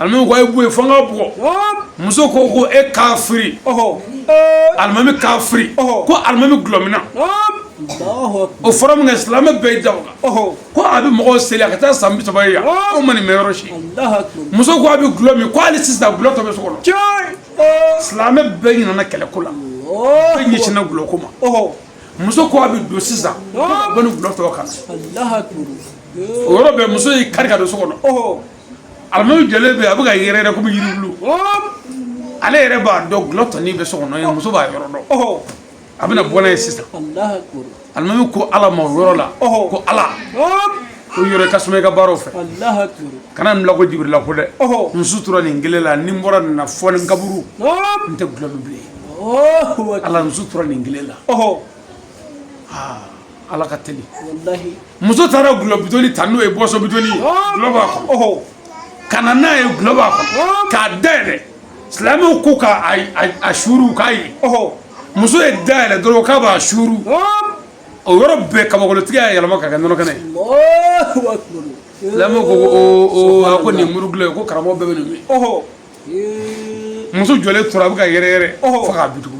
Speaker 2: alimami ko a ye bɔ yen fo n k'a bugɔ muso ko ko e kafiri alimami kafiri ko alimami gulɔminna o fɔra min kɛ silamɛ bɛɛ y'i da o kan ko a bɛ mɔgɔw seli a ka taa san bi saba ye yan o ma nin mɛn yɔrɔ si muso ko a bɛ gulɔ min ko hali sisan gulɔ tɔ bɛ so kɔnɔ silamɛ bɛɛ ɲinana kɛlɛ ko la bɛɛ ɲɛsinna gulɔ ko ma. muso ko a bɛ don sisan bɛ gulɔ tɔ kan o yɔrɔ bɛɛ muso y'i kari ka don so kɔnɔ alimami jɔlen bɛ a bɛ ka yɛrɛyɛrɛ kɔmi yiri bulu ale yɛrɛ b'a dɔn gulɔ tɔnin bɛ so kɔnɔ yen muso b'a yɔrɔ dɔn a bɛna bɔ n'a ye sisan alimami ko ala ma o yɔrɔ la ko ala ko yɔrɔ ka suma i ka baaraw fɛ kana nin bila ko jibirila ko dɛ n sutura nin kelen la ni n bɔra nin na fo ne kaburu n tɛ gulɔ min bilen ala n sutura nin kelen la ala ka teli muso taara gulɔ bidɔni ta n'o ye buwasɔn bidɔni ye gulɔ b'a kɔnɔ ka na n'a ye gulɔ b'a kɔnɔ k'a dayɛlɛ silamɛw ko k'a suuru k'a ye muso y'a dayɛlɛ dɔrɔn k'a b'a suuru o yɔrɔ bɛɛ kabakolotigi y'a yɛlɛma ka kɛ nɔnɔ kɛnɛ ye silamɛw ko ko a ko nin muru gulɔ ye ko karamɔgɔ bɛɛ bɛ nin min muso jɔlen tora a bɛ ka yɛrɛyɛrɛ fo ka bin dugu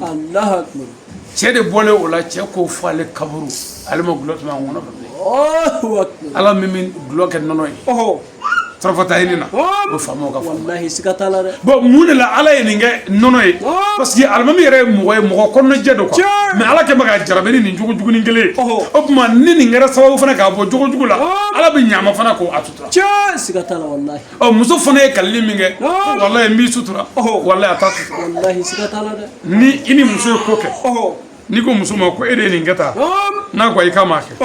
Speaker 2: cɛ de bɔlen o la cɛ ko fo ale kaburu ale ma gulɔ tɛmɛ a ŋɔnɔ fɛ ala min bɛ gulɔ kɛ nɔnɔ ye farafata ye ne na o faama ka walahi siga t'a la dɛ bon mun de la ala ye nin kɛ nɔnɔ ye parce que alimami yɛrɛ ye mɔgɔ ye mɔgɔ kɔnɔnajɛ don quoi mais ala kun bɛ k'a jarabi ni nin jogo jugunin kelen ye o tuma ni nin kɛra sababu fana k'a bɔ jogo jugu la ala bɛ ɲa a ma fana k'a sutura tiɲɛ siga t'a la walahi ɔ muso fana ye kalili min kɛ walahi n b'i sutura walahi a t'a sutura walahi siga t'a la dɛ ni i ni muso ye ko kɛ n'i ko muso ma ko e de ye nin kɛ tan n'a ko ayi k'a m'a kɛ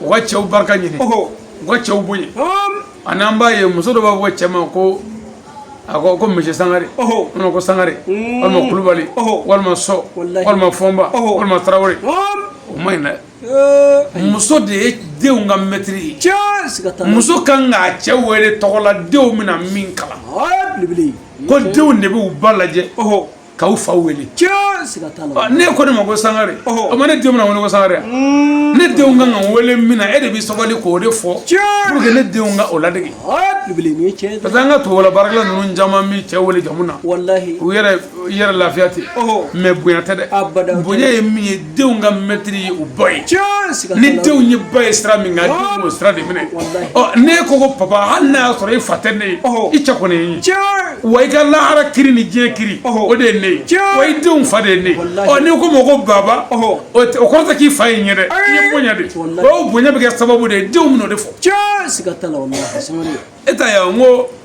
Speaker 2: u ka cɛw barika ɲini u ka cɛw bonya a n'an b'a ye muso dɔ b'a fɔ cɛ ma ko a ko ko monsieur sangare walima ko sangare mm. walima kulubali walima sɔ walima fɔnba walima tarawele o ma ɲi dɛ muso de ye denw ka mɛtiri ye muso kan k'a cɛ wele tɔgɔ la denw bɛna min kalan ko denw de bɛ u ba lajɛ k'u fa wele n'e ko ne ma ko sangare o ma ne denw na wele ko sangare mm. ne denw kan ka wele min na e de bɛ sabali k'o de fɔ pour que ne denw ka o ladege parce que an ka tubabu baarakɛla ninnu caman bɛ cɛ wele jamu na u yɛrɛ yɛrɛ lafiya ten mais bonya tɛ dɛ bonya ye min ye denw ka mɛtiri ye u ba ye ni denw ye ba ye sira min kan denw b'o sira de minɛ n'e ko ko papa hali n'a y'a sɔrɔ e fa tɛ ne ye i cɛ kɔni ye n ye wa i ka lahara kiri ni diɲɛ kiri o de ye ne ye wa i denw fa de ye ne ye ɔ n'i ko ma ko baba o kɔrɔ tɛ k'i fa ye n ye dɛ i ye bonya de o bonya bɛ kɛ sababu de ye denw bɛn'o de fɔ e t'a ye wa n ko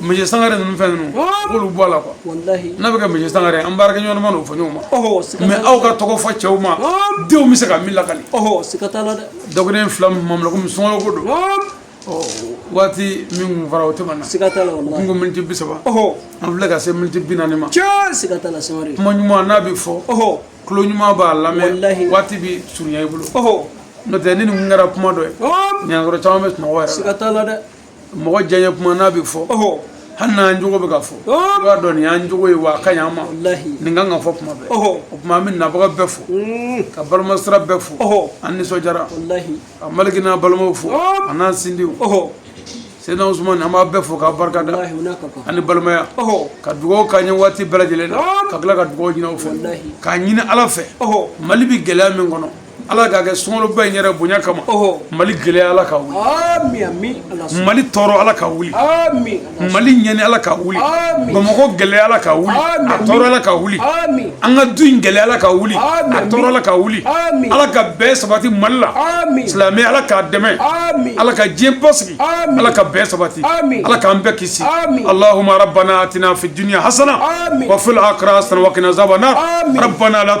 Speaker 2: monsieur sangare ninnu fɛn ninnu k'olu bɔ a la quoi n'a bɛ kɛ monsieur sangare an baarakɛ ɲɔgɔn ma n'o fɔ ɲɔgɔn ma mais aw ka tɔgɔ fɔ cɛw ma denw bɛ se ka min lakali dɔgɔden fila min mamla komi sunkalo ko don waati min kun fɔra o tɛmɛna kun ko miniti bi saba an filɛ ka se miniti bi naani ma kuma ɲuman n'a bɛ fɔ tulo ɲuman b'a lamɛn waati bɛ surunya i bolo n'o tɛ ni nin kun kɛra kuma dɔ ye ɲangɔrɔ caman bɛ sunɔgɔ yɛrɛ la mɔgɔ diyaɲɛ kuma n'a bɛ fɔ hali n'an jogo bɛ ka fɔ i b'a dɔn nin y'an jogo ye wa a ka ɲi an ma nin kan ka fɔ kuma bɛɛ o tuma an bɛ nabaga bɛɛ fo ka balimasira bɛɛ fo an nisɔndiyara ka maliki n'a balimaw fo a n'an sindiw seyidina usumani an b'a bɛɛ fo k'a barika da ani balimaya ka dugawu k'an ye waati bɛɛ lajɛlen na ka tila ka dugawu ɲini aw fɛ k'a ɲini ala fɛ mali bɛ gɛlɛya min kɔnɔ ala k'a kɛ sunkaloba in yɛrɛ bonya kama mali gɛlɛya ala ka wuli mali tɔɔrɔ ala ka wuli mali ɲɛni ala ka wuli bamakɔ gɛlɛya ala ka wuli a tɔɔrɔ ala ka wuli an ka du in gɛlɛya ala ka wuli a tɔɔrɔ ala ka wuli ala ka bɛn sabati mali la silamɛ ala k'a dɛmɛ ala ka diɲɛ basigi ala ka bɛn sabati ala k'an bɛɛ kisi alahuma rabbana atina fi dunya hasana wa fil akhirati hasana wa qina azaban nar rabbana la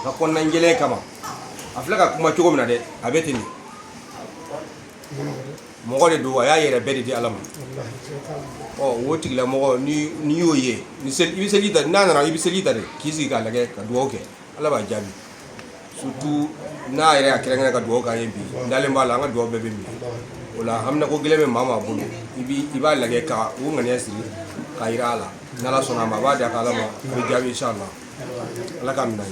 Speaker 4: a ka kɔnɔna jɛlen kama a filɛ ka kuma cogo min na dɛ a bɛ ten de mɔgɔ de don a y'a yɛrɛ bɛɛ de di ala ma ɔ o tigila mɔgɔ n'i y'o ye i bɛ seli ta n'a nana i bɛ seli ta de k'i sigi k'a lajɛ ka dugawu kɛ ala b'a jaabi surtout n'a yɛrɛ y'a kɛrɛnkɛrɛn ka dugawu k'an ye bi n dalen b'a la an ka dugawu bɛɛ bɛ minɛ o la haminako gɛlɛn bɛ maa maa bolo i bi i b'a lajɛ ka o ŋaniya siri k'a jira a la n'ala sɔnna a ma a b'a di a ka ala ma a bɛ jaabi inshallah ala k'a
Speaker 5: minɛ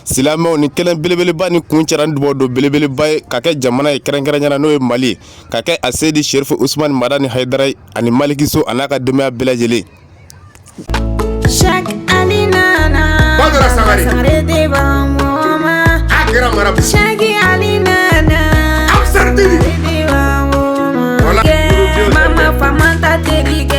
Speaker 5: silamɛw ni kɛnɛ belebeleba ni kuncɛra ni dubaw don belebeleba ye k'a kɛ jamana ye kɛrɛnkɛrɛnya na n'o ye mali ye k'a kɛ aseyidi sherifu usumani madani hayidara ye ani maliki so a n'a ka denbaya bɛɛ lajɛlen
Speaker 6: Chaque année nana, Badara Sangare
Speaker 7: de
Speaker 6: b'an mɔma. a kɛra mara
Speaker 7: bi Chaque année
Speaker 6: nana, Ansar Dine
Speaker 7: de b'an
Speaker 6: mɔma. Voilà. Kɛ,
Speaker 7: Mama
Speaker 6: famanta teri kɛ.